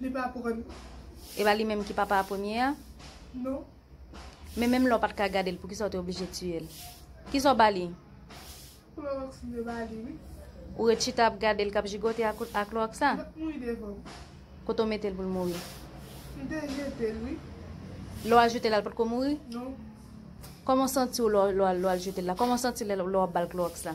Li pa aprann. E pa li menm ki papa a premye a? Non. Men menm lè w pa t ka gade l, poukisa w te oblije tiye l? Kisa w ba li? Klorox m te ba li wi. Ou ret chita ap gade l k ap jigote a klorox la? L ap mouri devan m. Kote w mete l pou l mouri? M te jete l wi. Lè w al jete l la, l pa t ko mouri? Non. Kòman w santi w lè w al jete l la? Kòman w santi lè w ap ba l klorox la?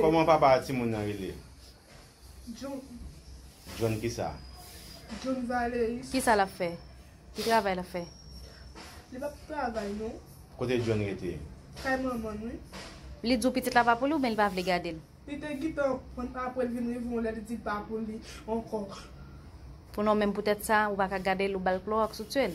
Koman papa ti moun nan rele? John kisa? Kisa lap fè? Ki travay lap fè? Kote John rete? Li di w pitit la pa pou li ou byen li pa vle gade l? Pou non menm poutèt sa ou paka gade l ou bal klowòks ou tye l?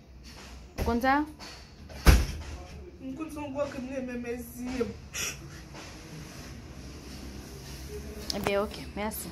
Ou konn sa? M konn son gwo krim ne men men zye'm. Ebyen ok, merci.